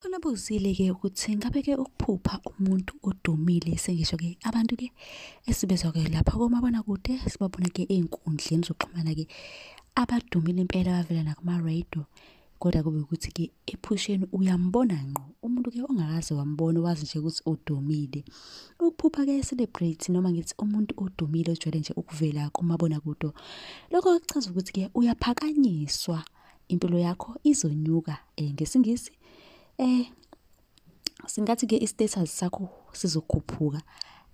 Khona buzile-ke ukuthi ngabe-ke ukuphupha umuntu odumile sengisho-ke abantu-ke esibezwa-ke lapha komabonakude sibabona-ke ey'nkundleni zokuxhumana-ke abadumile impela bavela nakuma-radio kodwa kube ukuthi-ke ephusheni uyambona ngqo umuntu-ke ongakaze wambona wazi nje ukuthi udumile ukuphupha-ke i-celebrate noma ngithi umuntu odumile ojwayele nje ukuvela kumabonakude lokho kuchaza ukuthi-ke uyaphakanyiswa impilo yakho izonyuka eh, ngesingisi eh singathi ke istatus sakho sizokhuphuka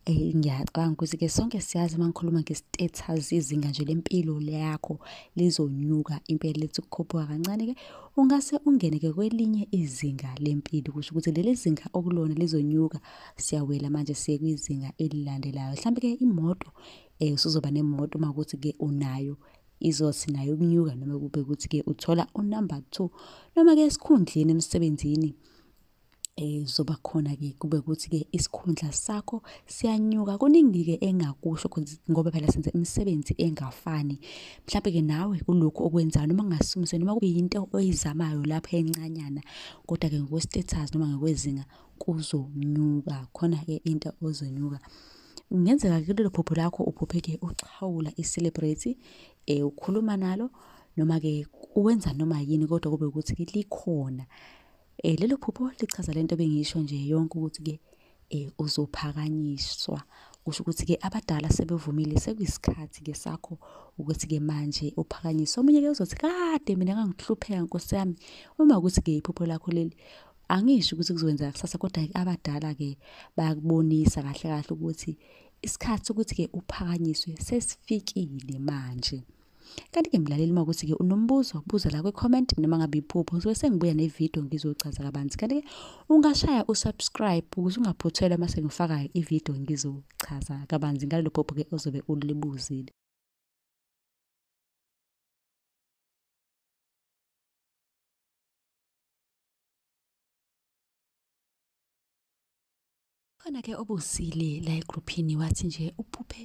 eh ngiyacabanga ukuthi ke sonke siyazi uma ngikhuluma nge-status izinga nje lempilo yakho lizonyuka impela lethi ukukhuphuka kancane ke ungase ungene ke kwelinye izinga lempilo kusho ukuthi leli zinga okulona lizonyuka siyawela manje siye kwizinga elilandelayo mhlawumbe ke imoto eh usuzoba nemoto uma ukuthi ke unayo izothi nayo ukunyuka noma kube ukuthi-ke uthola unumber two noma-ke esikhundleni emsebenzini um zoba khona-ke kube ukuthi-ke isikhundla sakho siyanyuka kuningi-ke engakusho ngoba phela senze imisebenzi engafani mhlawumbe-ke nawe kulokhu okwenzayo noma kungasumise noma kube yinto oyizamayo lapho encanyana kodwa-ke ngokwe-status noma ngokwezinga kuzonyuka khona-ke into ozonyuka um kungenzeka kulelo phupho lakho uphupheke uxhawula i-celebrate um ukhuluma nalo noma-ke uwenza noma yini kodwa kube ukuthi-ke likhona um lelo phupho lichaza le nto bengisho nje yonke ukuthi-ke um uzophakanyiswa kusho ukuthi-ke abadala sebevumile sekuyisikhathi-ke sakho ukuthi-ke manje uphakanyiswa omunye-ke uzothi kade mina ngangihlupheka nkosi yami uma ukuthi-ke iphupho lakho leli angisho ukuthi kuzokwenzeka kusasa kodwa abadala ke bayakubonisa kahle kahle ukuthi isikhathi sokuthi ke uphakanyiswe sesifikile manje kanti-ke mlaleli uma ukuthi-ke unombuzo buza la kwi-comment noma ngabe iphupho ngisuke sengibuya nevidiyo ngizochaza kabanzi kanti-ke ungashaya usubscribe ukuze ungaphuthelwa uma sengifakayo ividiyo ngizochaza kabanzi ngalelo phupho-ke ozobe ulibuzile khona ke obusile la egrouphini wathi nje uphuphe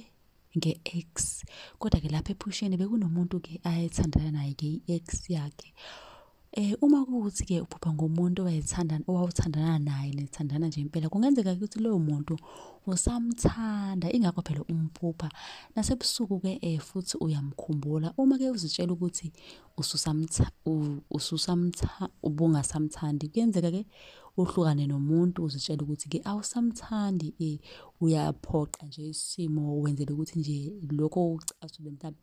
nge-ex kodwa ke lapha ephusheni bekunomuntu ke ayethandana naye ke i-ex yakhe eh uma kuthi ke uphupha ngomuntu owayethandana owawuthandana naye nithandana nje impela kungenzeka ukuthi lowo muntu usamthanda ingakho phela umphupha nasebusuku ke eh futhi uyamkhumbula uma ke uzitshela ukuthi ususamtha ususamtha ubungasamthandi kuyenzeka ke uhlukane nomuntu uzitshela ukuthi ke awusamthandi eh uyaphoqa nje isimo wenzele ukuthi nje lokho ucasule mhlawumbe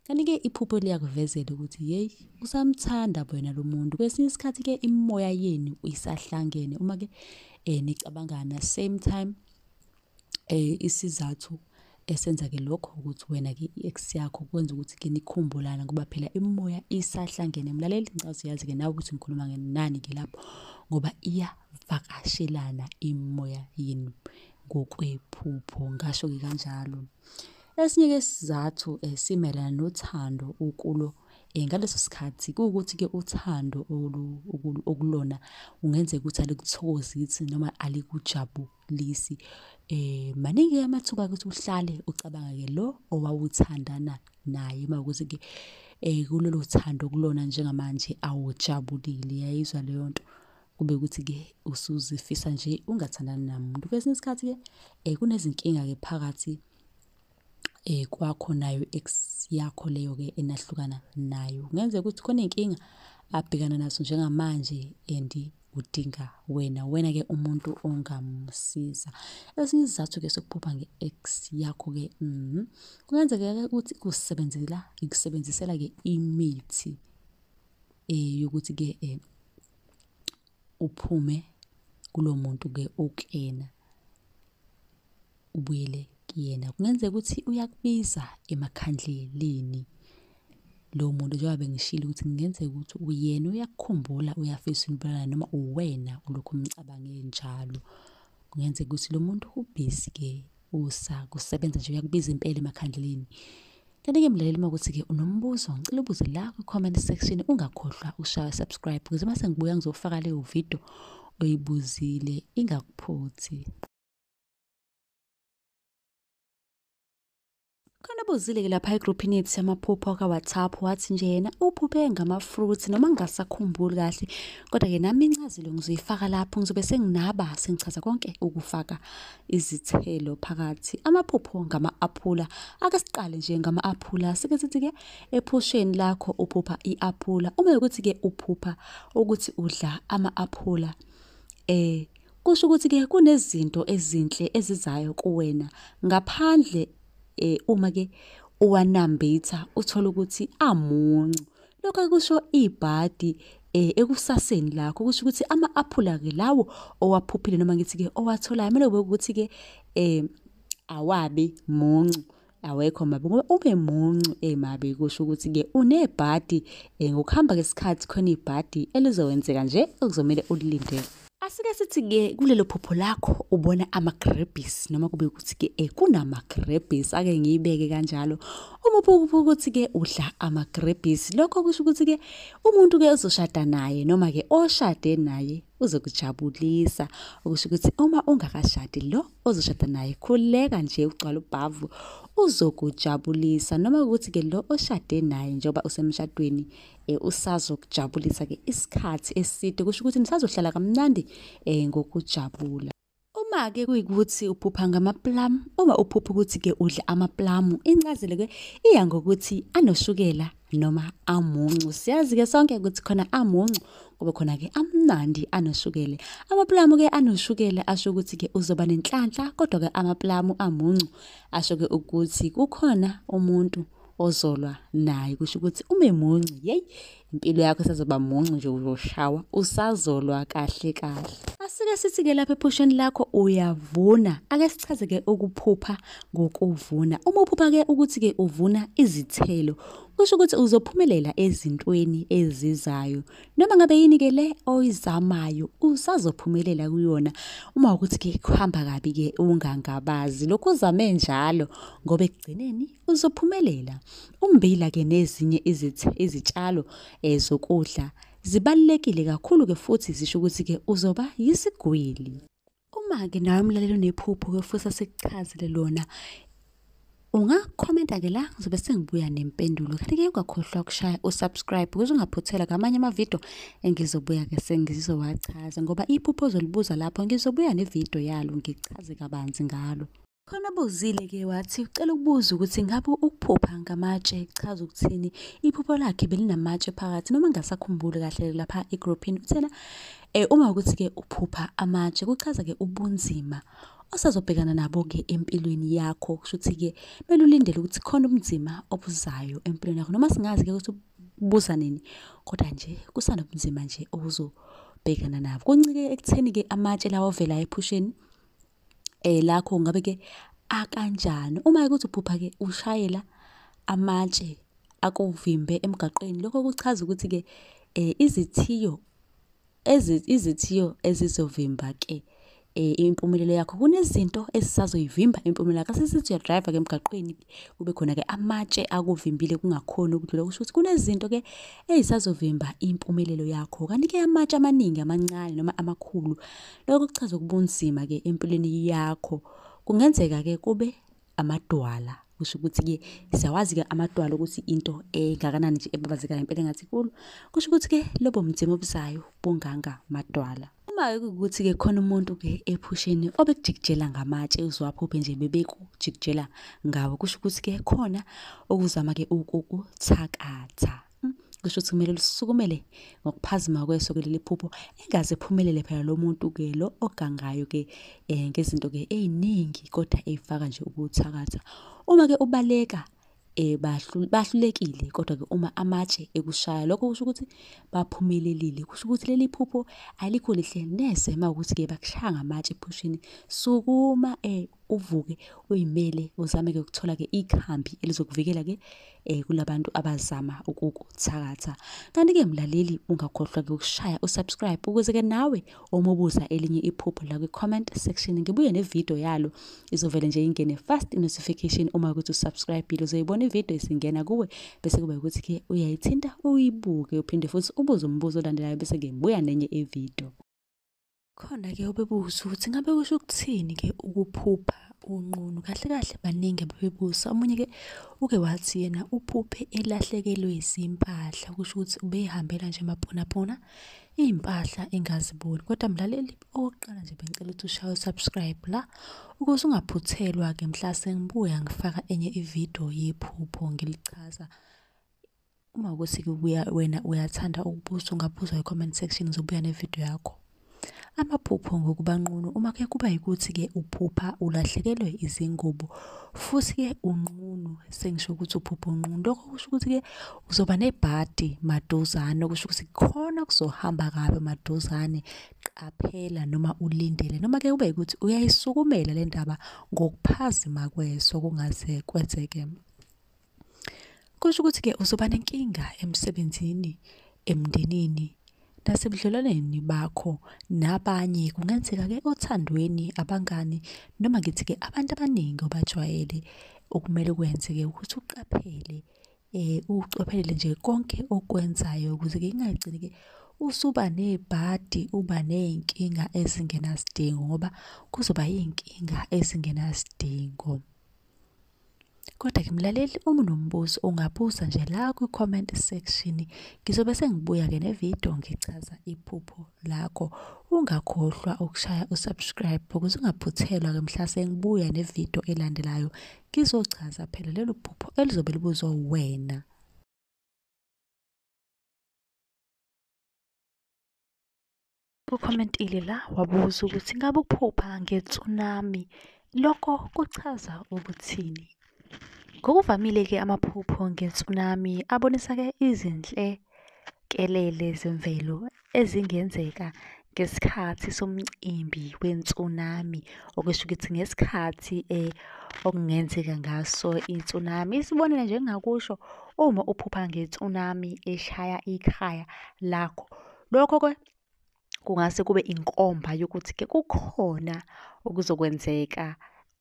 kanti-ke iphupho liyakuvezela ukuthi yeyi usamthanda wena lo muntu kwesinye isikhathi-ke imimoya yenu isahlangene uma-ke um eh, nicabangana same time Eh isizathu esenza ke lokho ukuthi wena ke i-ex yakho kwenza ukuthi ke nikhumbulana ngoba phela imimoya isahlangene mlaleli ngicazi yazi ke nawe ukuthi ngikhuluma ngenani ke lapho ngoba iyavakashelana imimoya yenu ngokwephupho ngasho ke kanjalo esinye ke sizathu esimelana eh, nothando ukulo Eh, ngaleso sikhathi kuwukuthi-ke uthando okulona kungenzeka ukuthi alikuthokozisi noma alikujabulisi. lisi eh maningi amathuba ukuthi uhlale ucabanga ke lo owawuthandana naye mawukuthi ke eh kulolu thando kulona njengamanje awujabulile yayizwa leyo nto kube ukuthi ke usuzifisa nje ungathandani namuntu kwesinye isikhathi ke eh kunezinkinga ke phakathi eh kwakho nayo ex yakho leyo ke enahlukana nayo ngenzeka ukuthi khona inkinga abhekana naso njengamanje and udinga wena wena ke umuntu ongamsiza esinye isizathu ke sokuphupha nge-ex yakho ke mm, kungenzeka ke ukuthi kusebenzela ikusebenzisela ke imithi eh yokuthi ke eh, uphume kulo muntu ke okuyena ubuyele kuyena kungenzeka ukuthi uyakubiza emakhandleleni lo muntu njengoba bengishilo ukuthi kungenzeka ukuthi uyena uyakukhumbula uyafisa impela noma uwena ulokhu umcabange njalo kungenzeka ukuthi lo muntu ubhizi ke usa kusebenza nje uyakubiza impela emakhandleleni Kanti-ke mlaleli uma ukuthi-ke unombuzo ngicela ubuze la kwi-comment section ungakhohlwa ushaya subscribe ukuze uma sengibuya ngizofaka leyo video oyibuzile ingakuphuthi. khona bozile-ke lapha egruphini yethu yamaphupho akawhatsapp wathi nje yena uphuphe ngama-fruit noma ngingasakhumbuli kahle kodwa-ke nami incazelo ngizoyifaka lapho ngizobe senginaba sengichaza konke ukufaka izithelo phakathi amaphupho ngama-aphula ake siqale nje ngama-aphula sike sithi-ke ephusheni lakho uphupha i-aphula uma yokuthi-ke uphupha ukuthi udla ama-aphula um eh, Kusho ukuthi ke kunezinto ezinhle ezizayo kuwena ngaphandle eh uma ke uwanambitha uthola ukuthi amuncu. Lokho kusho ibhadi eh ekusaseni lakho kusho ukuthi ama aphula ke lawo owaphuphile noma ngithi ke owatholayo kumele kube ukuthi ke eh awabi muncu awekho mabi ngoba ube muncu eh mabi kusho ukuthi ke unebhadi eh, ngokuhamba kwesikhathi khona ibhadi elizowenzeka nje okuzomele ulilindele asike sithi ke kulelo phupho lakho ubona amagrebis noma kube ukuthi ke eh kunamagrebis ake ngiyibeke kanjalo uma uphupha ukuthi ke udla amagrebis lokho kusho ukuthi ke umuntu ke uzoshada naye noma ke oshade naye uzokujabulisa okusho ukuthi uma ungakashadi lo ozoshada naye khuleka nje ugcwala ubhavu uzokujabulisa noma ukuthi ke lo oshade naye njengoba usemshadweni eh, usazokujabulisa ke isikhathi eside kusho ukuthi nisazohlala kamnandi eh, ngokujabula uma ke kuyikuthi uphupha ngamaplamu uma uphupha ukuthi ke udla amaplamu incazelo ke iya ngokuthi anoshukela noma amuncu siyazi-ke sonke ukuthi khona amuncu kube khona-ke amnandi anoshukele amapulamu ke anoshukele asho ukuthi-ke uzoba nenhlanhla kodwa-ke amapulamu amuncu asho-ke ukuthi kukhona umuntu ozolwa naye kusho ukuthi ube muncu yeyi impilo yakho isazoba muncu nje uzoshawa usazolwa kahle kahle asike sithi-ke lapha ephusheni lakho uyavuna ake sichaze-ke ukuphupha ngokuvuna. Uma uphupha-ke ukuthi-ke uvuna izithelo, kusho ukuthi uzophumelela ezintweni ezizayo. Noma ngabe yini-ke le oyizamayo, usazophumelela kuyona. Uma ukuthi-ke kuhamba kabi-ke ungangabazi. Lokhu uzame njalo ngoba ekugcineni uzophumelela. Ummbila-ke nezinye izitshalo eh, zokudla zibalulekile kakhulu-ke futhi zisho ukuthi-ke uzoba yisigwili. Uma-ke nawe mlaleli unephupho kuyofusa sikuchazele lona ungakhomenta-ke la ngizobe sengibuya nempendulo kanti-ke ungakhohlwa ukushaya usubscribe ukuze ungaphuthela ngamanye amavidiyo engizobuya-ke sengizowachaza ngoba iphupho ozolibuza lapho ngizobuya nevidiyo yalo ngichaze kabanzi ngalo Khona buzile ke wathi ucela ukubuza ukuthi ngabe ukuphupha ngamatshe kuchaza ukuthini. Iphupho lakhe belinamatshe phakathi noma ngasakhumbuli kahle lapha egroupini uthena eh uma ukuthi ke uphupha amatshe kuchaza ke ubunzima osazobhekana nabo ke empilweni yakho kusho ukuthi ke belulindele ukuthi khona ubunzima obuzayo empilweni yakho noma singazi ke ukuthi buza nini kodwa nje kusanobunzima nje obuzobhekana nabo. Kuncike ekutheni ke amatshe lawa ovela ephusheni eh lakho ngabe ke akanjani uma ukuthi uphupha ke ushayela amatshe akuvimbe emgaqweni lokho kuchaza ukuthi ke eh izithiyo izithiyo ezizovimba ke eh, impumelelo yakho kunezinto esisazoyivimba impumelelo yakho sesithi uyadrive ke emgaqweni kube khona ke amatshe akuvimbile kungakhona ukudlula kusho ukuthi kunezinto ke ezisazovimba impumelelo yakho kanti ke amatshe amaningi amancane noma amakhulu Lokho kuchaza ukubunzima ke empilweni yakho. Kungenzeka ke kube amadwala. Kusho ukuthi ke siyawazi ke amadwala ukuthi into engakanani nje ebabazekayo impela engathi kulo. Kusho ukuthi ke lobo mzimba obuzayo bunganga madwala. Uma ukuthi ke khona umuntu ke ephusheni obekujikijela ngamatshe uzwaphuphe nje bebekujikijela ngawo kusho ukuthi ke khona okuzama ke ukukuthakatha. Hmm, kusho ukuthi kumele lisukumele ngokuphazima kweso ke leli phupho engaze ephumelele phela lo muntu ke lo ogangayo ke um ngezinto ke ey'ningi kodwa ey'faka nje ukuthakatha uma ke ubaleka eh bahlulekile kodwa ke uma amatshe ekushaya lokho kusho ukuthi baphumelelile kusho ukuthi leli phupho alikho lihle neze uma ukuthi ke bakushaya ngamatshe ephushini sukuma eh uvuke uyimele uzame ke ukuthola ke ikhambi elizokuvikela ke eh kulabantu abazama ukukuthakatha kanti ke mlaleli ungakhohlwa ke ukushaya usubscribe ukuze ke nawe omubuza elinye iphupho la kwi-comment section ngibuye nevidiyo yalo izovele nje ingene fast notification uma ukuthi usubscribe ile uzoyibona ividiyo isingena kuwe bese kuba ukuthi ke uyayithinta uyibuke uphinde futhi ubuze umbuzo olandelayo bese ke buya nenye ividiyo Khona-ke obebuza ukuthi ngabe kusho ukuthini-ke ukuphupha unqunu. Kahle kahle baningi ababebuza. Omunye-ke uke wathi yena uphuphe elahlekelwe izimpahla, kusho ukuthi ubeyihambela nje maponapona iy'mpahla engaziboni. Kodwa mlaleli okokuqala nje bengicela ukuthi ushaye u-subscribe la ukuze ungaphuthelwa-ke mhla sengibuya ngifaka enye ividiyo yephupho ngilichaza. uma ukuthi kubuya wena uyathanda ukubuza ungabuza kwi-comment section ngizobuya nevidiyo yakho amaphupho ngokuba nqunu uma ke kuba yikuthi-ke uphupha ulahlekelwe izingubo futhi-ke unqunu sengisho ukuthi uphupha unqunu lokho kusho ukuthi-ke uzoba nebhadi maduzane okusho ukuthi khona kuzohamba kabi maduzane qaphela noma ulindele noma ke kube ukuthi uyayisukumela le ndaba ngokuphazima kweso kungaze kwenzeke Kusho ukuthi-ke uzoba nenkinga emsebenzini, emndenini, nasebudlelwaneni bakho nabanye. Kungenzeka-ke othandweni, abangani, noma ngithi-ke abantu abaningi obajwayele. Okumele ukwenze-ke ukuthi uqaphele ukucophelela nje konke okwenzayo ukuze-ke kungagcini-ke usuba nebhadi, uba ney'nkinga ezingenasidingo ngoba kuzoba iy'nkinga ezingenasidingo. Kodwa-ke mlaleli uma unombuzo ungabuza nje la kwi-comment section. Ngizobe sengibuya-ke nevidiyo ngichaza iphupho lakho. Ungakhohlwa ukushaya usubscribe ukuze ungaphuthelwa-ke mhla sengibuya nevidiyo elandelayo. Ngizochaza phela lelo phupho elizobe libuzwa wena. Ucommentile la wabuza ukuthi ngabe ukuphupha nge-tsunami lokho kuchaza ukuthini? Ngokuvamile-ke amaphupho nge-tsunami abonisa-ke izinhlekelele zemvelo ezingenzeka ngesikhathi somcimbi we-tsunami, okusho ukuthi ngesikhathi eh, okungenzeka ngaso i-tsunami. Isibonelo nje engingakusho, uma uphupha nge-tsunami eshaya ikhaya lakho, lokho-ke kungase kube inkomba yokuthi ke kukhona okuzokwenzeka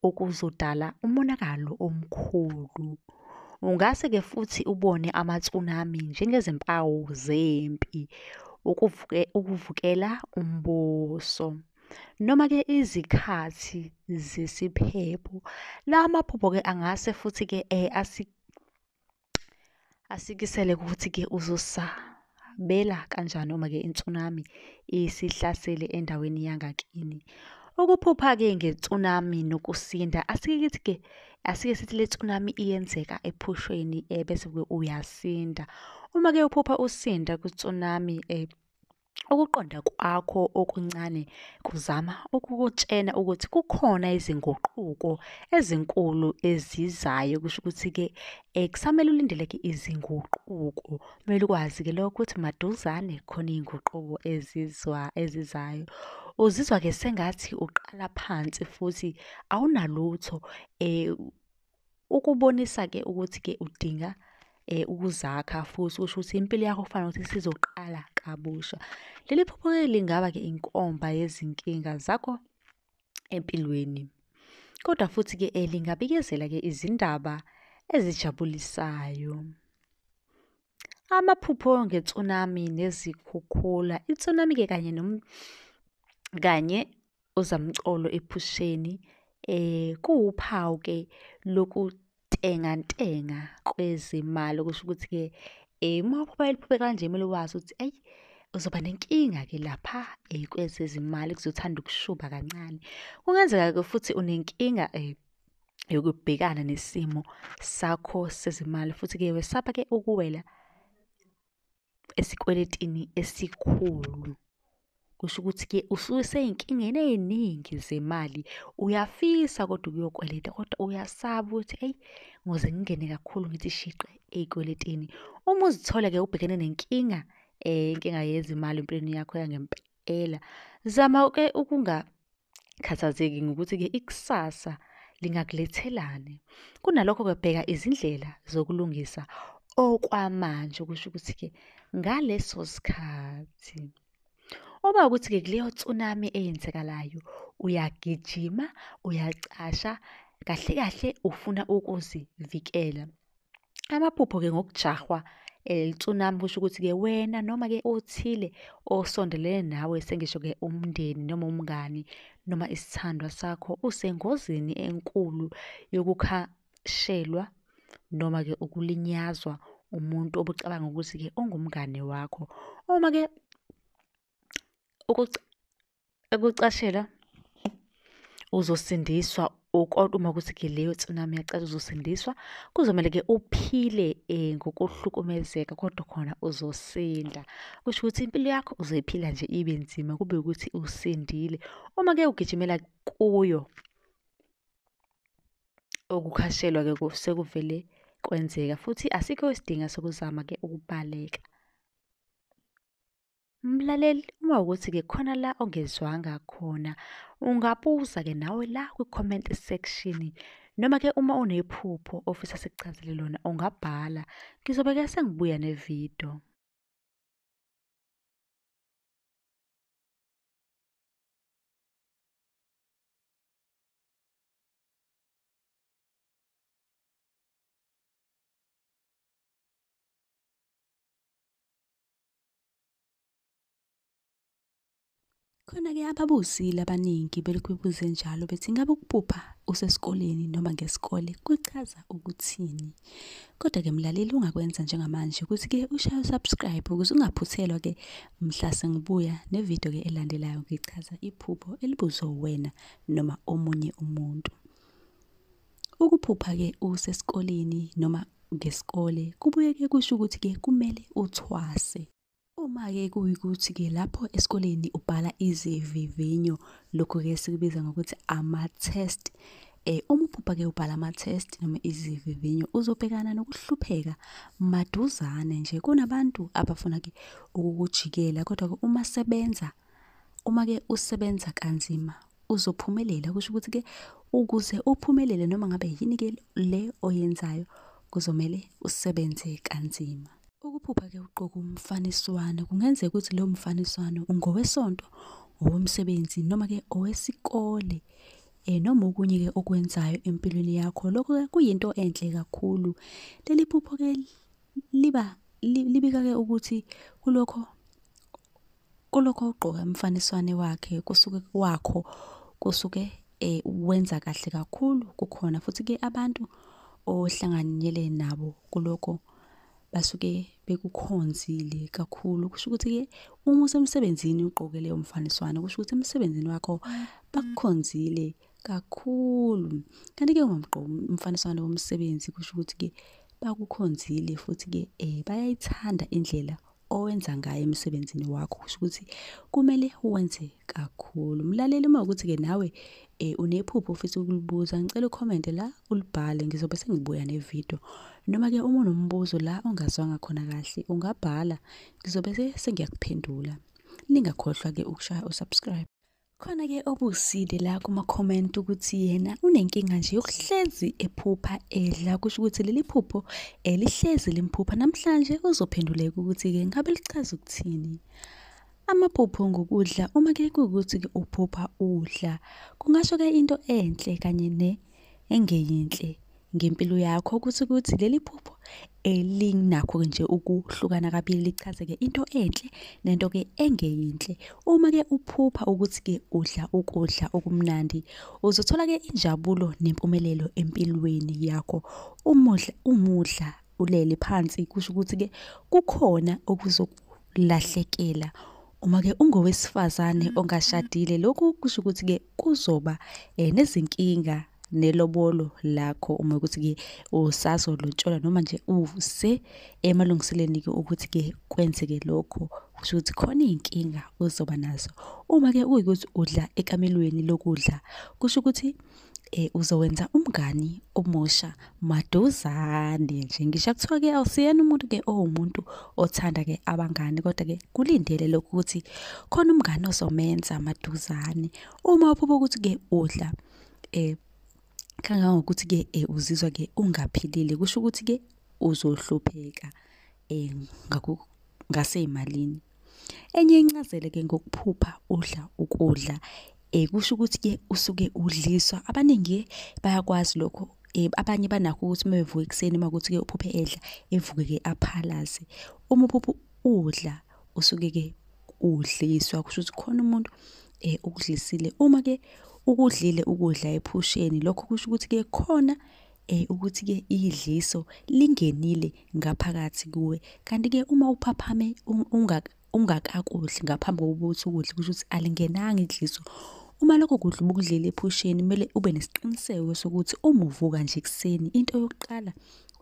okuzodala umonakalo omkhulu. Ungase ke futhi ubone ama-tsunami njengezimpawu zempi, ukuvuke, ukuvukela umbuso. Noma ke izikhathi zesiphepho. La maphupho ke angase futhi ke eh, asi, asikisele ukuthi-ke uzosabela kanjani uma-ke i-tsunami isihlasele endaweni yangakini ukuphupha-ke nge-tsunami nokusinda asike kithi-ke asike sithi le tsunami iyenzeka ephushweni um bese-ke uyasinda uma-ke uphupha usinda kwi-tsunami um Ukuqonda kwakho okuncane kuzama ukukutshena ukuthi kukhona izinguquko ezinkulu ezizayo kusho ukuthi-ke um kusamele ulindeleke izinguquko kumele ukwazi-ke lokho ukuthi maduzane khona iy'nguquko ezizwa ezizayo uzizwa-ke sengathi uqala phansi futhi awunalutho um Ukubonisa ke ukuthi ke udinga eh ukuzakha futhi usho ukuthi impilo yakho kufanele ukuthi sizoqala kabusha. Leli phupho ke lingaba ke inkomba yezinkinga zakho empilweni. Kodwa futhi ke eh, lingabikezela ke izindaba ezijabulisayo. Amaphupho nge-tsunami nezikhukhula. I-tsunami-ke kanye nom kanye ozamcolo ephusheni eh kuwuphawu-ke lokutengantenga kwezimali okusho ukuthi-ke eh uma uphupha eliphuphe kanje kumele wazi ukuthi ayi uzoba nenkinga-ke lapha eh kwezezimali kuzothanda ukushuba kancane. Kungenzeka-ke futhi unenkinga eh yokubhekana nesimo sakho sezimali futhi-ke wesaba-ke ukuwela esikweletini esikhulu kusho ukuthi-ke ususey'nkingeni ey'ningi zemali uyafisa kodwa ukuyokweleta kodwa uyasaba ukuthi eyi ngoze ngingene kakhulu ngithi shiqe ey'kweletini uma uzithola-ke ubhekene nenkinga um inkinga yezimali empilweni yakho yangempela Ela, zama ke ukungakhathazeki ngokuthi-ke ikusasa lingakulethelani. Kunalokho-ke bheka izindlela zokulungisa okwamanje okusho ukuthi-ke ngaleso sikhathi. Uma ukuthi-ke kuleyo tsunami eyenzekalayo uyagijima, uyacasha, kahle kahle ufuna ukuzivikela. Amaphupho ke ngokujahwa eh, tsunami kusho ukuthi ke wena noma ke othile osondelene nawe sengisho ke umndeni noma umngani noma isithandwa sakho usengozini enkulu yokukhashelwa noma ke ukulinyazwa umuntu obucabanga ukuthi ke ungumngane wakho uma ke ukucashelwa uzosindiswa kodwa uma ukuthi ke leyo tsunami yacela uzosindiswa kuzomele ke uphile um ngokuhlukumezeka kodwa khona uzosinda kusho ukuthi impilo yakho uzoyiphila nje ibe nzima kube ukuthi usindile uma ke ugijimela kuyo okukhashelwa ke sekuvele kwenzeka futhi asikho isidingo sokuzama ke ukubaleka Mlaleli, uma ukuthi-ke khona la ongezwanga khona, ungabuza-ke nawe la kwi-comment section. Noma-ke uma unephupho ofisa sikuchazele lona, ungabhala. Ngizobe-ke sengibuya nevidiyo. Khona-ke ababuzile abaningi belokhu bebuze njalo bethi ngabe ukupupha usesikoleni noma ngesikole kuchaza ukuthini. Kodwa-ke mlaleli ungakwenza njengamanje ukuthi-ke ushaye usubscribe ukuze ungaphuthelwa-ke mhla sengibuya nevidiyo-ke elandelayo ngichaza iphupho elibuzwe uwena noma omunye umuntu. Ukuphupha-ke usesikoleni noma ngesikole kubuye-ke kusho ukuthi-ke kumele uthwase. Uma-ke kuyikuthi-ke lapho esikoleni ubhala izivivinyo, lokhu-ke sikubiza ngokuthi ama-test. Eh, uma uphupha-ke ubhala ama-test noma izivivinyo uzobhekana nokuhlupheka maduzane nje. Kunabantu abafuna-ke ukukujikela kodwa-ke uma sebenza uma-ke usebenza kanzima uzophumelela kusho ukuthi ke ukuze uphumelele noma ngabe yini ke le oyenzayo kuzomele usebenze kanzima ukuphupha ke uqoka umfaniswano kungenzeka ukuthi leyo mfaniswano ungowesonto owomsebenzi noma ke owesikole eh noma okunye ke okwenzayo empilweni yakho lokho ke kuyinto enhle kakhulu leli phupho ke liba libika ke ukuthi kulokho kulokho ugqoka umfaniswane wakhe kusuke kwakho kusuke eh, wenza kahle kakhulu kukhona futhi ke abantu ohlanganyele nabo kulokho basuke bekukhonzile kakhulu kusho ukuthi ke uma usemsebenzini ugqoke leyo mfaniswano kusho ukuthi emsebenzini wakho bakukhonzile kakhulu kanti ke ungumgqoki umfaniswano womsebenzi kusho ukuthi ke bakukhonzile futhi ke eh bayayithanda indlela owenza ngayo emsebenzini wakho kusho ukuthi kumele wenze kakhulu mlaleli uma ukuthi ke nawe eh unephupho ofisa ukulibuza ngicela ucomment la ulibhale ngizobe sengibuya nevideo noma ke uma unombuzo la ongazwanga khona kahle ungabhala ngizobe sengiyakuphendula ningakhohlwa ke ukushaya usubscribe Khona-ke obusile la kuma-comment ukuthi yena unenkinga nje yokuhlezi ephupha edla, kusho ukuthi leli phupho eh, lihlezi limphupha. Namhlanje uzophenduleka ukuthi-ke ngabe lichaza ukuthini. Amaphupho ngokudla, uma ke kuwukuthi-ke uphupha udla, kungasho-ke into enhle kanye ne engeyinhle. ngempilo yakho ukuthi ukuthi leli phupho elinakho-ke nje ukuhlukana kabili lichaze-ke into enhle nento-ke engeyinhle uma-ke uphupha ukuthi-ke udla ukudla okumnandi uzothola-ke injabulo nempumelelo empilweni yakho umudla umudla ulele phansi kusho ukuthi-ke kukhona okuzokulahlekela uma-ke ungowesifazane ongashadile lokhu kusho ukuthi-ke kuzoba um nezinkinga nelobolo lakho uma ukuthi ke usazolotsholwa noma nje use emalungiseleni ke ukuthi ke kwenzeke lokho kusho ukuthi khona izinkinga uzoba nazo uma ke kuyikuthi udla ekamelweni lokudla kusho ukuthi eh uzowenza umngani omusha maduzane nje ngisho kuthiwa ke awusiyena umuntu ke owumuntu othanda ke abangani kodwa ke kulindele lokho ukuthi khona umngani ozomenza maduzane uma uphupha ukuthi ke udla eh kangangokuthi ke eh, uzizwa ke ungaphilile kusho ukuthi ke uzohlupheka eh ngaku ngaseyimalini enye incazelo ke ngokuphupha udla ukudla eh kusho ukuthi ke usuke udliswa abaningi bayakwazi lokho eh abanye banakho ukuthi uma bevuka ekuseni uma kuthi ke uphuphe edla evuke ke aphalaze uma uphupha udla usuke ke udliswa kusho ukuthi khona umuntu eh ukudlisile uma ke ukudlile ukudla ephusheni lokho kusho ukuthi ke khona eh ukuthi ke idliso lingenile ngaphakathi kuwe kanti ke uma uphaphame ungaka ungakakudli ngaphambi kokuba uthi ukudla kusho ukuthi alingenanga idliso Uma lokho kudla ubukudlile ephusheni kumele ube nesiqiniseko sokuthi uma uvuka nje ekuseni into yokuqala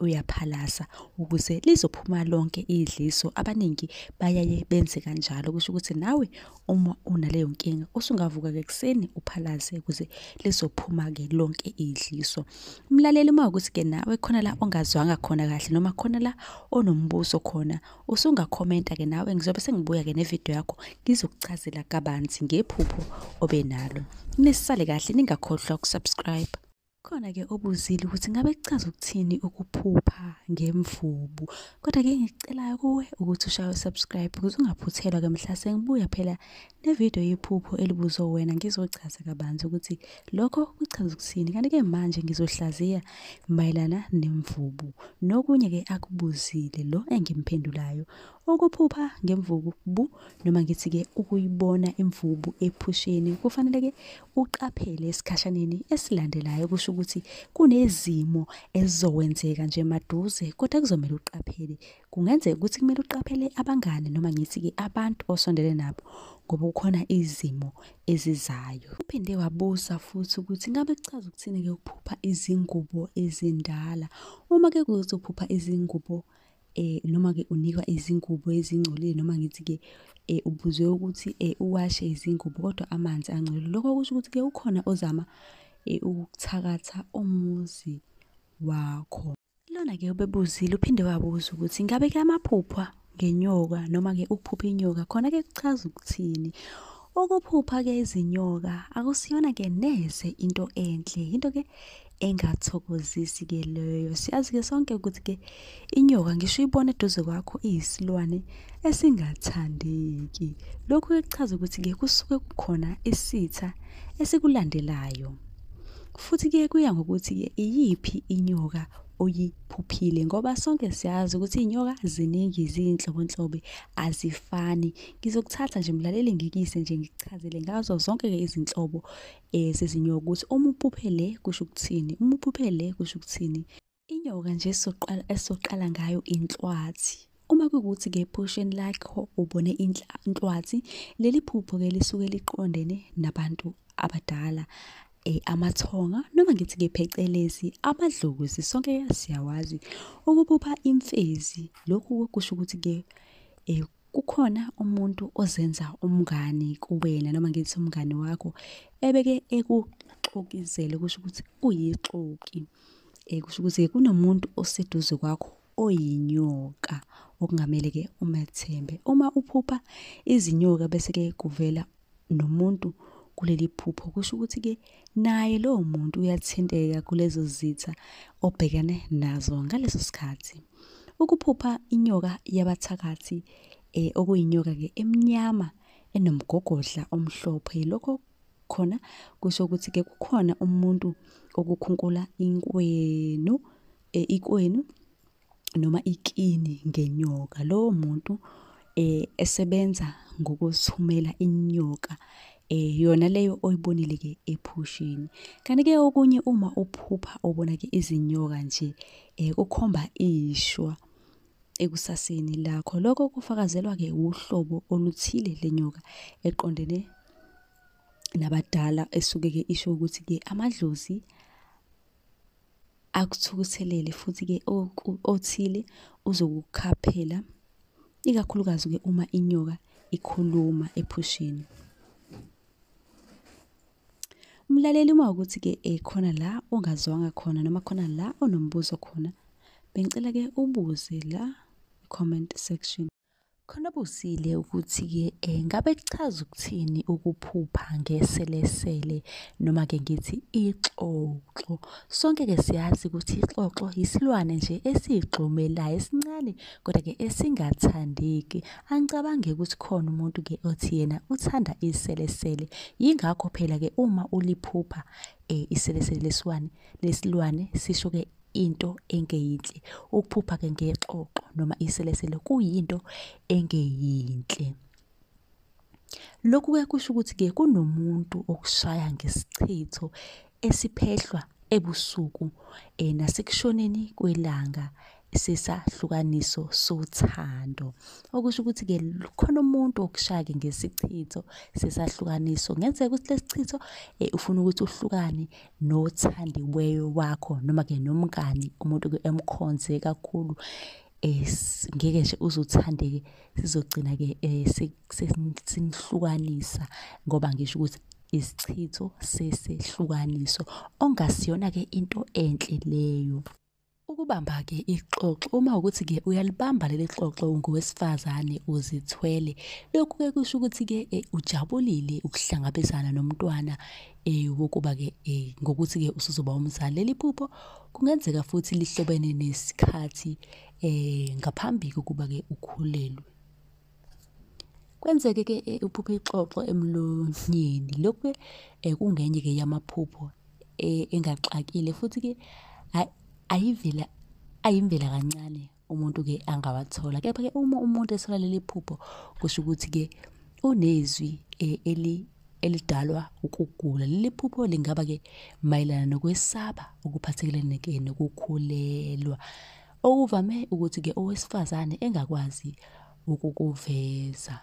uyaphalasa ukuze lizophuma lonke idliso abaningi bayaye benze kanjalo kusho ukuthi nawe uma unaleyo nkinga usungavuka ke kuseni uphalaze ukuze lizophuma ke lonke idliso umlaleli uma ukuthi ke nawe khona la ongazwanga khona kahle noma khona la onombuso khona usunga commenta ke nawe ngizobe sengibuya ke nevideo yakho ngizokuchazela kabanzi ngephupho obenalo nisale kahle ningakhohlwa ukusubscribe Khona ke obuzile ukuthi ngabe kuchaza ukuthini ukuphupha ngemvubu. Kodwa ke engikucelayo kuwe ukuthi ushaye subscribe ukuze ungaphuthelwa ke mhla sengibuya phela nevideo yephupho elibuzwe wena ngizochaza kabanzi ukuthi lokho kuchaza ukuthini. Kanti ke manje ngizohlaziya mayelana nemvubu. Nokunye ke akubuzile lo engimphendulayo. Ukuphupha ngemvubu noma ngithi ke ukuyibona imvubu ephusheni kufanele ke uqaphele esikhashaneni esilandelayo kusho ukuthi kunezimo ezizokwenzeka nje maduze kodwa kuzomele uqaphele kungenzeka ukuthi kumele uqaphele abangane noma ngithi-ke abantu osondele nabo ngoba kukhona izimo ezizayo uphinde wabuza futhi ukuthi ngabe kuchaza ukuthini-ke ukuphupha izingubo ezindala uma ke kuzophupha izingubo eh noma ke unikwa izingubo ezingcolile noma ngithi ke eh ubuzwe ukuthi eh uwashe izingubo kodwa amanzi angcolile lokho kusho ukuthi ke ukhona ozama eh ukuthakatha umuzi wakho lona ke ubebuzile uphinde wabuza ukuthi ngabe ke amaphupha ngenyoka noma ke ukuphupha inyoka khona ke kuchaza ukuthini Ukuphupha ke izinyoka akusiyona ke neze into enhle into ke engathokozisi ke leyo siyazi ke sonke ukuthi ke inyoka ngisho ibona eduze kwakho iyisilwane esingathandeki lokhu ke kuchaza ukuthi ke kusuke kukhona isitha esikulandelayo futhi ke kuya ngokuthi ke iyiphi inyoka oyiphuphile ngoba sonke siyazi ukuthi iy'nyoka ziningi ziyinhlobonhlobo azifani Ngizokuthatha nje mlaleli ngikise nje ngikuchazele ngazo zonke ke izinhlobo eh sezinyoka ukuthi uma uphuphe le kusho ukuthini, uma uphuphe le kusho ukuthini. Inyoka nje soqala esoqala ngayo inhlwathi. Uma kuwukuthi ke ephusheni lakho ubone inhlwathi, leli phupho ke lisuke liqondene nabantu abadala eh, amathonga noma ngithi ke phecelezi amadlozi sonke siyawazi ukuphupha imfezi lokhu kusho ukuthi ke eh, kukhona umuntu ozenza umngani kuwena noma ngithi umngani wakho ebeke ekuxokizele kusho ukuthi uyixoki eh, kusho ukuthi kunomuntu oseduze kwakho oyinyoka okungamele ke umethembe uma uphupha izinyoka bese ke kuvela nomuntu kuleli phupho kusho ukuthi-ke naye lowo muntu uyathinteka kulezo zitha obhekene nazo ngaleso sikhathi ukuphupha inyoka yabathakathi eh, okuyinyoka-ke emnyama enomgogodla omhlophe lokho khona kusho ukuthi-ke kukhona umuntu okukhunkula inkwenu eh, ikwenu noma ikini ngenyoka lowo muntu eh esebenza ngokuthumela inyoka eh yona leyo oyibonile ke ephushini kanti ke okunye uma uphupha ubona ke izinyoka nje eh kukhomba ishwa ekusaseni lakho lokho kufakazelwa ke uhlobo oluthile lenyoka eqondene nabadala esuke ke isho ukuthi ke amadlozi akuthukuthelele futhi-ke othile uzokukhaphela ikakhulukazi-ke uma inyoka ikhuluma ephusheni umlaleli uma ukuthi-ke eh, khona la ongazwanga khona noma khona la onombuzo khona bengicela-ke ubuze la comment section Khona busile ukuthi-ke eh, ngabe kuchaza ukuthini ukuphupha ngeselesele noma-ke ngithi ixoxo. Sonke-ke siyazi ukuthi ixoxo yisilwane nje esiyigxumelayo esincane kodwa-ke esingathandeki. Angicabange ukuthi khona umuntu-ke othi yena uthanda iselesele. Yingakho phela-ke uma uliphupha eh, iselesele lesilwane lesilwane sisho-ke into engeyinhle ukuphupha ke ngexoxo noma iselesele kuyinto engeyinhle lokhu ke kusho ukuthi ke kunomuntu okushaya ngesichitho esiphehlwa ebusuku eh, nasekushoneni kwelanga sesahlukaniso sothando okusho ukuthi ke khona umuntu okushake ngesichitho sesahlukaniso ngenzeka ukuthi lesichitho eh, ufuna ukuthi uhlukane nothandiweyo wakho noma-ke nomngani umuntu-ke emkhonze kakhulu um ngeke nje uzothande-ke sizogcina-ke um sinihlukanisa ngoba ngisho ukuthi isichitho sesehlukaniso ongasiyona-ke into enhle leyo. Ukubamba-ke ixoxo uma ukuthi-ke uyalibamba leli xoxo ungowesifazane uzithwele lokhu-ke kusho ukuthi-ke eh, ujabulile ukuhlangabezana nomntwana eh, wokuba-ke eh, ngokuthi-ke usuzoba umzali leli phupho kungenzeka futhi lihlobene nesikhathi um ngaphambi kokuba-ke ukhulelwe Kwenzeke ke eh, uphuphe ixoxo emlonyeni. Lokhu ke eh, kungenye ke yamaphupho eh, engaxakile futhi ke ayivela ayimvela kancane umuntu ke angawathola. Kepha ke uma umuntu ethola leli phupho kusho ukuthi ke unezwi eli elidalwa ukugula. Leli phupho lingaba ke mayelana nokwesaba okuphathelene ke nokukhulelwa. okuvame ukuthi-ke owesifazane engakwazi ukukuveza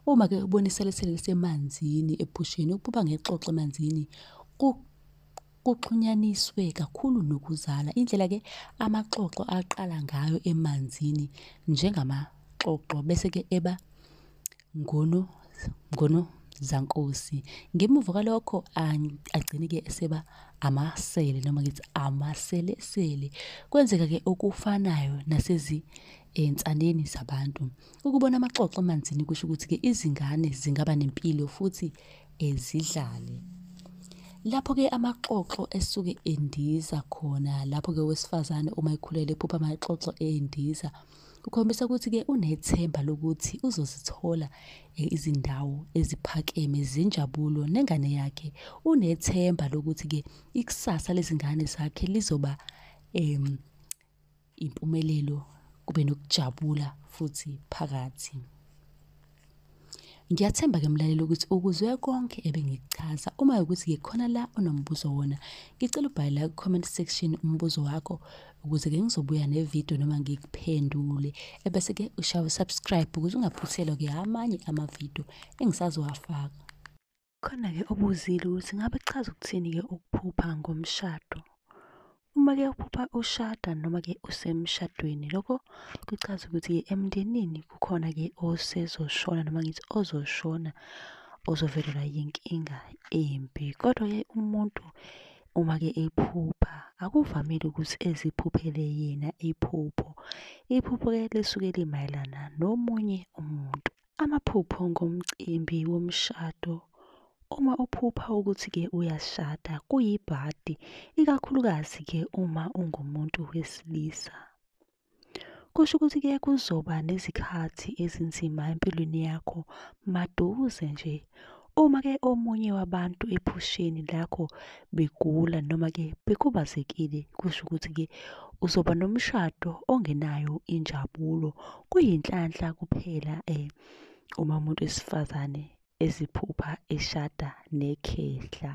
uma-ke uboniselesele lisemanzini ephusheni ukuba ngexoxo emanzini kuxhunyaniswe kakhulu nokuzala indlela-ke amaxoxo aqala ngayo emanzini njengamaxoxo bese-ke eba Ngunu Ngunu Zankosi. Ngemuva kwalokho agcine-ke eseba amasele noma ngithi amaselesele. Kwenzeka-ke okufanayo nasezinsaneni eh, zabantu. Ukubona amaxoxo emanzini kusho ukuthi-ke izingane zingaba nempilo futhi eh, zidlale. Lapho-ke amaxoxo esuke endiza khona, lapho-ke owesifazane uma ekhulele ephupha amaxoxo endiza. Ukhombisa ukuthi-ke unethemba lokuthi uzozithola e, izindawo eziphakeme zenjabulo nengane yakhe. Unethemba lokuthi-ke ikusasa lezingane zakhe lizoba um impumelelo kube nokujabula futhi phakathi. Ngiyathemba ke mlaleli ukuthi ukuzwe konke ebengikuchaza. Uma ukuthi ke khona la onombuzo wona, ngicela ubhale la comment section umbuzo wakho ukuze ke ngizobuya ne video noma ngikuphendule. Ebese ke ushawa subscribe ukuze ungaphuthelwa ke amanye ama video engisazowafaka. Khona-ke obuzile ukuthi ngabe kuchaza ukuthini-ke ukuphupha ngomshado. Uma-ke uphupha ushada noma-ke usemshadweni, lokho kuchaza ukuthi-ke emndenini kukhona-ke osezoshona noma ngithi ozoshona ozovelelwa yinkinga embi. Kodwa-ke umuntu uma-ke ephupha akuvamile ukuthi eziphuphele yena iphupho. Iphupho-ke lisuke limayelana nomunye umuntu. Amaphupho ngomcimbi womshado. Uma uphupha ukuthi-ke uyashada kuyibhadi, ikakhulukazi-ke uma ungumuntu wesilisa. Kusho ukuthi-ke kuzoba nezikhathi ezinzima empilweni yakho maduze nje. Uma ke omunye wabantu ephusheni lakho begula noma ke bekhubazekile kusho ukuthi ke uzoba nomshado ongenayo injabulo kuyinhlanhla kuphela eh uma umuntu wesifazane eziphupha eshada nekhehla.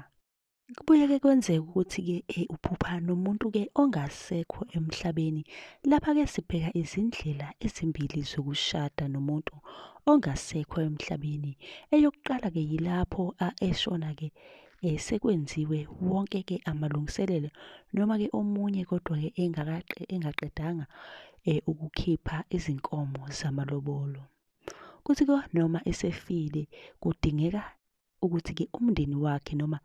Kubuye ke kwenzeke ukuthi-ke eh, uphupha nomuntu-ke ongasekho emhlabeni. Lapha-ke sibheka izindlela ezimbili zokushada nomuntu ongasekho emhlabeni. Eyokuqala-ke yilapho eshona-ke eh, sekwenziwe wonke-ke amalungiselelo noma-ke omunye kodwa-ke engaqedanga eh, ukukhipha izinkomo zamalobolo. Kuthi-ke noma esefile kudingeka ukuthi-ke umndeni wakhe noma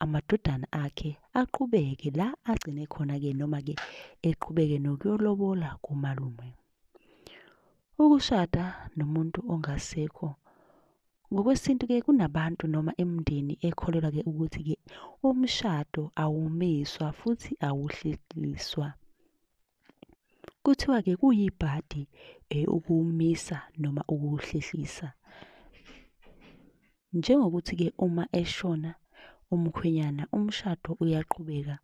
amadodana akhe aqhubeke la agcine khona-ke noma-ke eqhubeke nokuyolobola kumalume. Ukushada nomuntu ongasekho ngokwesintu-ke kunabantu noma imindeni ekholelwa-ke ukuthi-ke umshado awumiswa futhi awuhlehliswa. Kuthiwa-ke kuyibhadi eh, ukuwumisa noma ukuwuhlehlisa. Njengokuthi-ke uma eshona umkhwenyana umshado uyaqhubeka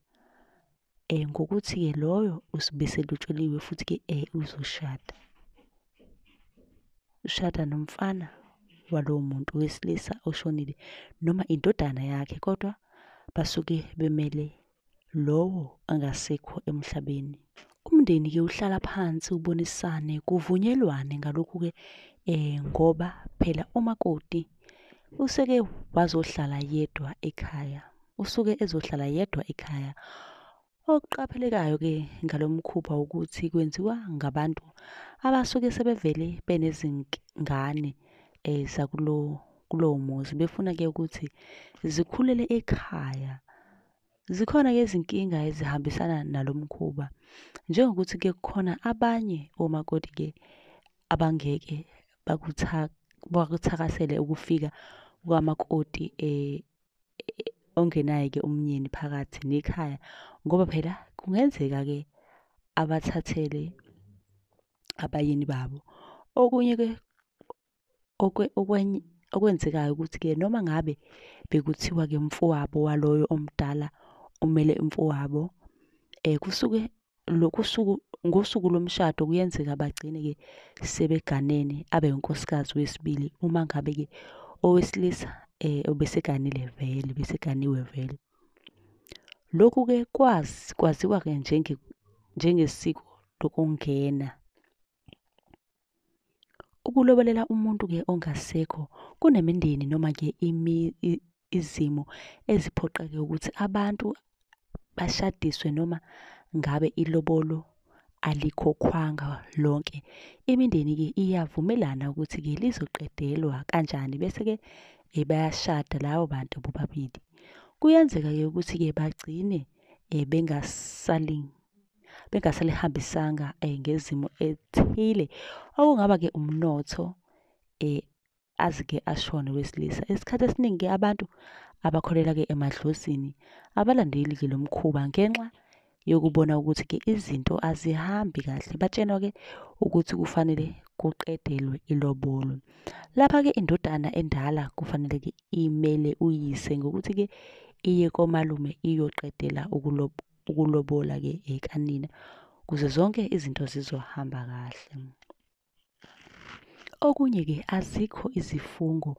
eh ngokuthi-ke loyo usuke selutsheliwe futhi-ke eh uzoshada. Ushada nomfana walowo muntu wesilisa oshonile noma indodana yakhe kodwa basuke bemele lowo angasekho emhlabeni. Umndeni-ke uhlala phansi ubonisane kuvunyelwane ngalokhu-ke um ngoba phela umakoti useke wazohlala yedwa ekhaya, usuke ezohlala yedwa ekhaya. Okuqaphelekayo-ke ngalo mkhuba ukuthi kwenziwa ngabantu abasuke sebevele benezingane um zakulo kulowo muzi befuna-ke ukuthi zikhulele ekhaya Zikhona-ke izinkinga ezihambisana nalo mkhuba njengokuthi ke kukhona abanye omakoti ke abangeke bakuthakasele ukufika kwamakoti e, e, ongenaye ke umnyeni phakathi nekhaya ngoba phela kungenzeka ke abathathele abayeni babo. Okunye ke okwenzekayo ukuthi-ke noma ngabe bekuthiwa-ke umfowabo waloyo omdala umele umfowabo um kusuke lokhu suku ngosuku lomshado kuyenzeka bagcine-ke sebeganene abe unkosikazi wesibili uma ngabe-ke owesilisa um obeseganile vele beseganiwe vele lokhu-ke kwazi kwaziwa-ke njengesiko lokungena Ukulobolela umuntu-ke ongasekho kunemindeni noma-ke izimo eziphoqeke ukuthi abantu bashadiswe noma ngabe ilobolo alikhokhwanga lonke. Imindeni-ke iyavumelana ukuthi-ke lizoqedelwa kanjani bese-ke eh, bayashada labo bantu bobabili. Kuyenzeka-ke ukuthi-ke bagcine eh, bengasaling bengasalihambisanga eh, ngezimo ethile okungaba ke umnotho eh azike ashone wesilisa isikhathi esiningi ke abantu abakholela ke emadlozini abalandeli ke lomkhuba ngenxa yokubona ukuthi ke izinto azihambi kahle batshenwa ke ukuthi kufanele kuqedelwe ilobolo lapha ke indodana endala kufanele ke imele uyise ngokuthi ke iye komalume iyoqedela ukulob ukulobola ke ekanina kuze zonke izinto zizohamba kahle okunye ke azikho izifungo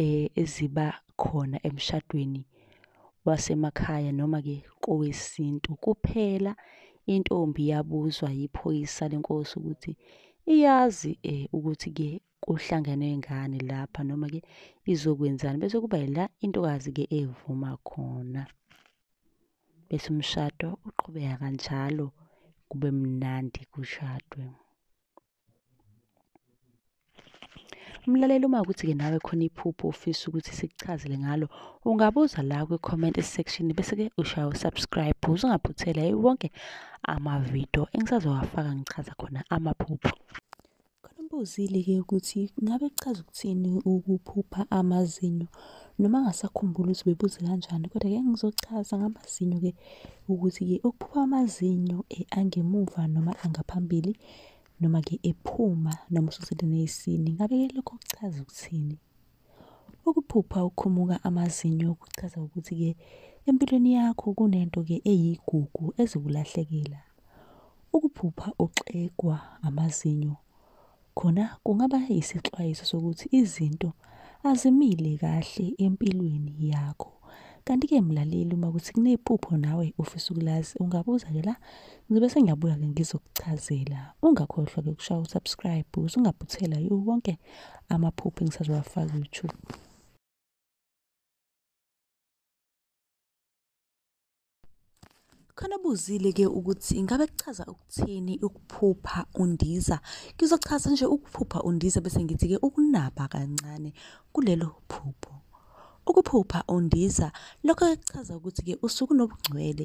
eh, eziba khona emshadweni wasemakhaya noma ke kowesintu kuphela intombi yabuzwa yiphoyisa lenkosi ukuthi iyazi eh, ukuthi ke kuhlangenwe ngani lapha noma ke izokwenzani bese kuba yila intokazi ke evuma khona bese umshado uqhubeka kanjalo kube mnandi kushadwe. Umlaleli uma ukuthi-ke nawe khona iphupho ofisa ukuthi sikuchazele ngalo, ungabuza la kwi-comment section bese-ke ushaya u-subscribe ukuze ungaphuthela wonke amavidiyo engisazowafaka ngichaza khona amaphupho. Khona umbuzile-ke ukuthi ngabe kuchaza ukuthini ukuphupha amazinyo noma angasakhumbuli ukuthi bebuze kanjani kodwa ke ngizochaza ngamazinyo-ke ukuthi-ke ukuphupha amazinyo eh, angemuva noma angaphambili noma-ke ephuma noma ususelene isini ngabe-ke lokho kuchaza ukuthini. Ukuphupha uqhumuka amazinyo kuchaza ukuthi-ke empilweni yakho kunento-ke eyigugu ezokulahlekela. Ukuphupha uxegwa amazinyo khona kungaba yisixwayiso sokuthi izinto azimile kahle empilweni yakho. Kanti-ke mlaleli uma kuthi kunephupho nawe ufisa ukulazi ungabuza-ke la ngizobe sengiyabuya-ke ngizokuchazela. Ungakhohlwa-ke ukushaya usubscribe ukuze ungaphuthela yiwo wonke amaphupho engisazowafaka ku-YouTube. Khona buzile-ke ukuthi ingabe kuchaza ukuthini ukuphupha undiza. Ngizochaza nje ukuphupha undiza bese ngithi-ke ukunaba kancane kulelo phupho. Ukuphupha undiza lokho kuchaza ukuthi-ke usuke unobungcwele,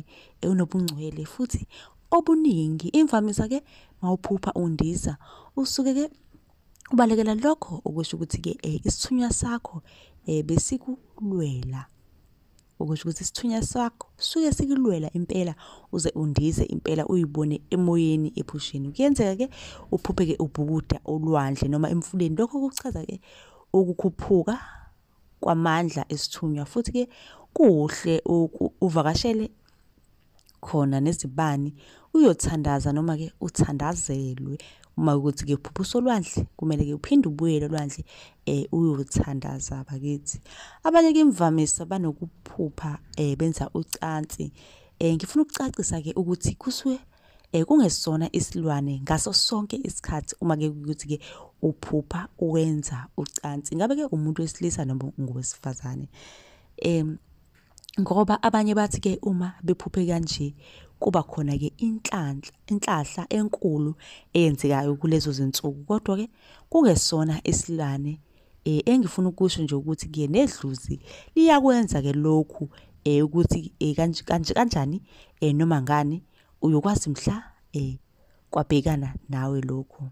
unobungcwele futhi obuningi. Imvamisa-ke mawuphupha undiza usuke-ke ubalekela lokho okusho ukuthi-ke isithunywa sakho besikulwela. okusho ukuthi isithunywa sakho suke sikulwela impela uze undize impela uyibone emoyeni ephusheni kuyenzeka ke uphupheke ubhukuda olwandle noma emfuleni lokho kuchaza ke ukukhuphuka kwamandla esithunywa futhi ke kuhle uvakashele khona nezibani uyothandaza noma-ke uthandazelwe uma ukuthi ke uphuphusa olwandle kumele ke uphinde ubuyele olwandle eh uyothandaza bakithi abanye ke imvamisa banokuphupha eh benza ucansi eh ngifuna ukucacisa ke ukuthi kuswe eh kungesona isilwane ngaso sonke isikhathi uma ke ukuthi ke uphupha uwenza ucansi ngabe ke umuntu wesilisa noma ngowesifazane em ngoba abanye bathi ke uma bephuphe kanje kuba khona ke inhlanhla inhlahla enkulu eyenzekayo kulezo zinsuku kodwa ke kungesona isilwane eh engifuna ukusho nje ukuthi ke nedluzi liyakwenza ke lokhu eh ukuthi eh kanje kanje kanjani eh noma ngani uyokwazi mhla eh kwabhekana nawe lokho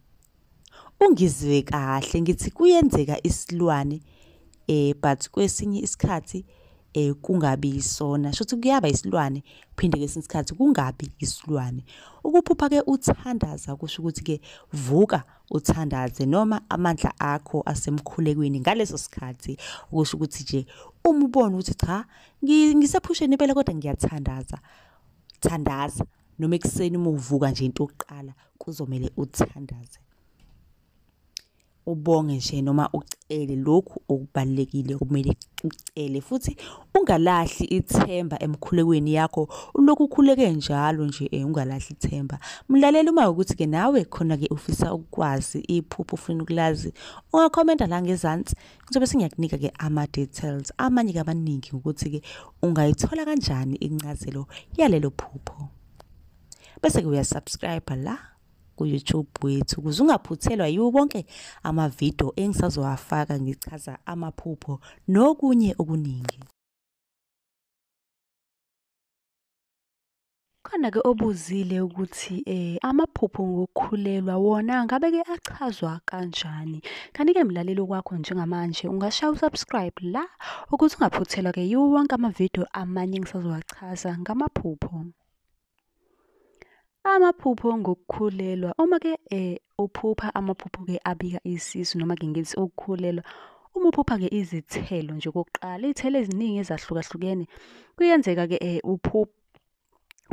Ungizwe kahle ngithi kuyenzeka isilwane eh but kwesinye isikhathi eh kungabi isona shothi kuyaba isilwane phinde kwesinye isikhathi kungabi isilwane ukuphupha ke uthandaza kusho ukuthi ke vuka uthandaze noma amandla akho asemkhulekweni ngaleso sikhathi kusho ukuthi nje umubona ukuthi cha ngisephusheni impela kodwa ngiyathandaza thandaza noma ekuseni uma uvuka nje into yokuqala kuzomele uthandaze ubonge nje noma ucele lokhu okubalekile kumele ucele futhi ungalahli ithemba emkhulekweni yakho ulokhu ukhuleke njalo nje eh, ungalahli ithemba mlalele uma ukuthi ke nawe khona ke ufisa ukwazi iphupho ufuna ukulazi ungakhomenta la ngezansi Ngizobe sengiyakunika ke ama details amanye kabaningi ukuthi ke ungayithola kanjani incazelo yalelo phupho. Bese ke uyasubscribe la ku-YouTube wethu ukuze ungaphuthelwa yiwo wonke amavidiyo engisazowafaka ngichaza amaphupho nokunye okuningi. Khona-ke obuzile ukuthi eh amaphupho ngokukhulelwa wona ngabe-ke achazwa kanjani. Kanti-ke mlaleli okwakho njengamanje ungashaya usubscribe la ukuthi ungaphuthelwa-ke yiwo wonke amavidiyo amanye engisazowachaza ngamaphupho. Amaphupho ngokukhulelwa uma-ke eh uphupha amaphupho-ke abika isisu noma-ke ngithi ukukhulelwa Uma uphupha-ke izithelo nje okokuqala, iy'thelo eziningi ezahlukahlukene, kuyenzeka-ke um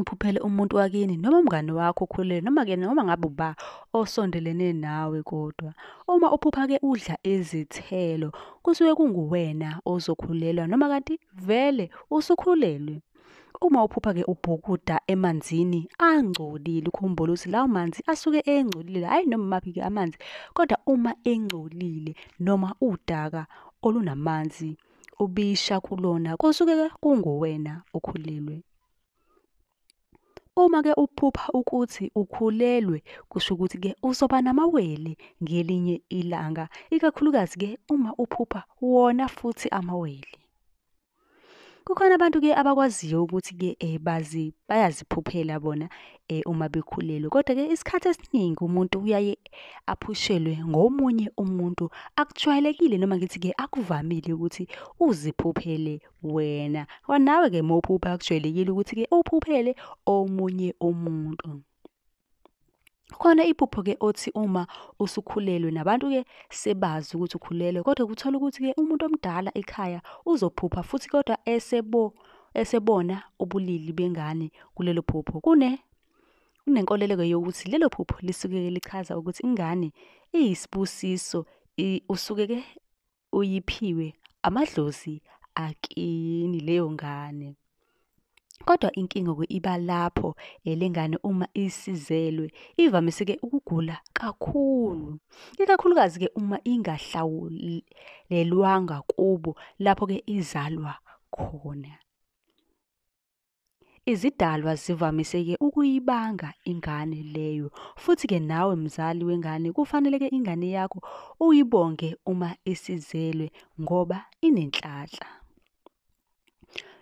uphuphele umuntu wakini noma umngane wakho okhulele noma ke noma ngabe uba osondelene nawe kodwa uma uphupha ke udla izithelo kusuke kunguwena ozokhulelwa noma kanti vele usukhulelwe uma uphupha ke ubhukuda emanzini angcolile ukhumbula ukuthi lawo manzi asuke engcolile hayi noma maphi ke amanzi kodwa uma engcolile noma udaka olunamanzi ubisha kulona kosuke kunguwena okhulelwe. Uma-ke uphupha ukuthi ukhulelwe kusho ukuthi-ke uzoba namawele ngelinye ilanga, ikakhulukazi-ke uma uphupha wona futhi amawele. Kukhona abantu-ke abakwaziyo ukuthi-ke um bayaziphuphela bona eh, uma bekhulelwe kodwa ke isikhathi esiningi umuntu uyaye aphushelwe ngomunye umuntu akujwayelekile noma ngithi ke akuvamile ukuthi uziphuphele wena nawe ke mawuphupha akujwayelekile ukuthi ke uphuphele omunye umuntu khona iphupho ke othi uma usukhulelwe nabantu ke sebazi ukuthi ukhulelwe kodwa kuthola ukuthi ke umuntu omdala ekhaya uzophupha futhi kodwa esebo esebona ubulili bengane kulelo phupho kune kunenkoleleko yokuthi lelo phupho lisuke lichaza ukuthi ingane iyisibusiso usuke ke uyiphiwe amadlozi akini leyo ngane Kodwa inkinga iba lapho elengane uma isizelwe ivamise-ke ukugula kakhulu, ikakhulukazi-ke uma ingahlawulelwanga kubo lapho-ke izalwa khona. Izidalwa zivamise-ke ukuyibanga ingane leyo, futhi-ke nawe mzali wengane kufanele-ke ingane yakho uyibonge uma isizelwe ngoba inenhlanhla.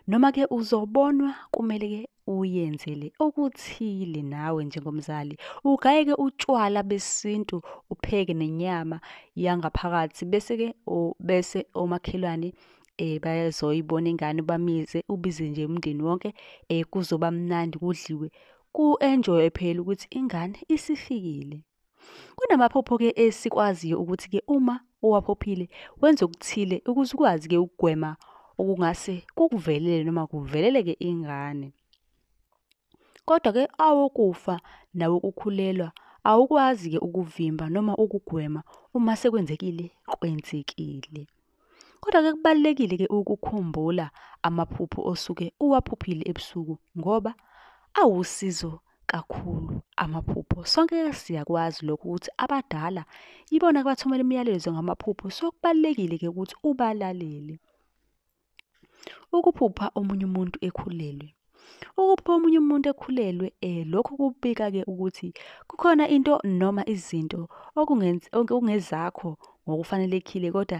Noma-ke uzobonwa kumele-ke uyenzele okuthile nawe njengomzali. Ugayeke utshwala besintu, upheke nenyama yangaphakathi bese-ke bese omakhelwane eh bayazoyibona ingane bamize ubize nje umndeni wonke eh kuzoba mnandi kudliwe ku-enjoy phela ukuthi ingane isifikile. Kunamaphupho ke esikwaziyo ukuthi ke uma owaphophile wenza okuthile ukuze ukwazi ke ukugwema okungase kukuvelele noma kuveleleke ingane. Kodwa ke awokufa nawokukhulelwa awukwazi ke ukuvimba noma ukugwema uma sekwenzekile kwenzekile. Kodwa-ke kubalulekile-ke ukukhumbula amaphupho osuke uwaphuphile ebusuku ngoba awusizo kakhulu amaphupho. Sonke siyakwazi lokho ukuthi abadala ibona abathumela imiyalezo ngamaphupho, so kubalulekile-ke ukuthi ubalalele. Ukuphupha omunye umuntu ekhulelwe Ukubika omunye umuntu ekhulelwe eh lokhu kubika ke ukuthi kukhona into noma izinto okungezakho ngokufanelekile kodwa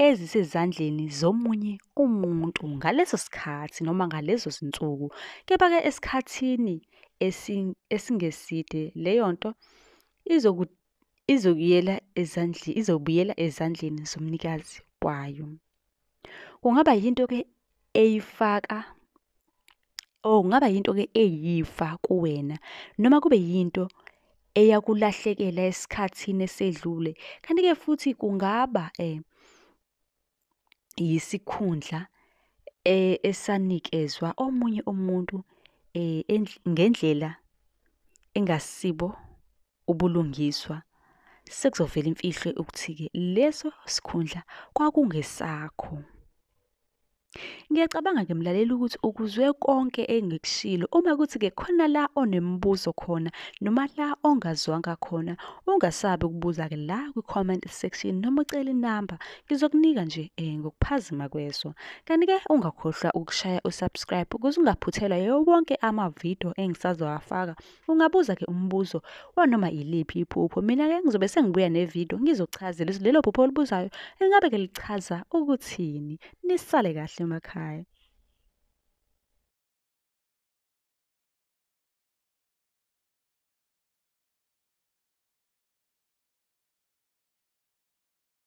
ezisezandleni zomunye umuntu ngaleso sikhathi noma ngalezo zinsuku. Kepha-ke esikhathini esingeside leyo nto izokuyela ezandleni izobuyela ezandleni zomnikazi kwayo kungaba yinto ke eyifaka oh kungaba yinto ke eyifa kuwena noma kube yinto eyakulahlekela esikhathini esedlule kanti ke futhi kungaba eh yisikhundla e, esanikezwa omunye umuntu e, ngendlela engasibo ubulungiswa sekuzovela imfihlo ukuthi-ke leso sikhundla kwakungesakho. Ngiyacabanga ke mlaleli ukuthi ukuzwe konke engikushilo uma kuthi-ke khona la onemibuzo khona noma la ongazwanga khona ungasabi ukubuza-ke la kwi-comment section noma ucele inamba Ngizokunika nje eh, ngokuphazima kweso. Kanti-ke ungakhohlwa ukushaya usubscribe ukuze ungaphuthelwa yiwo wonke amavidiyo engisazowafaka. Ungabuza-ke umbuzo wanoma yiliphi iphupho. Mina-ke ngizobe sengibuya nevidiyo ngizochazela ukuthi lelo phupho olibuzayo ingabe-ke lichaza ukuthini. Nisale kahle emakhaya.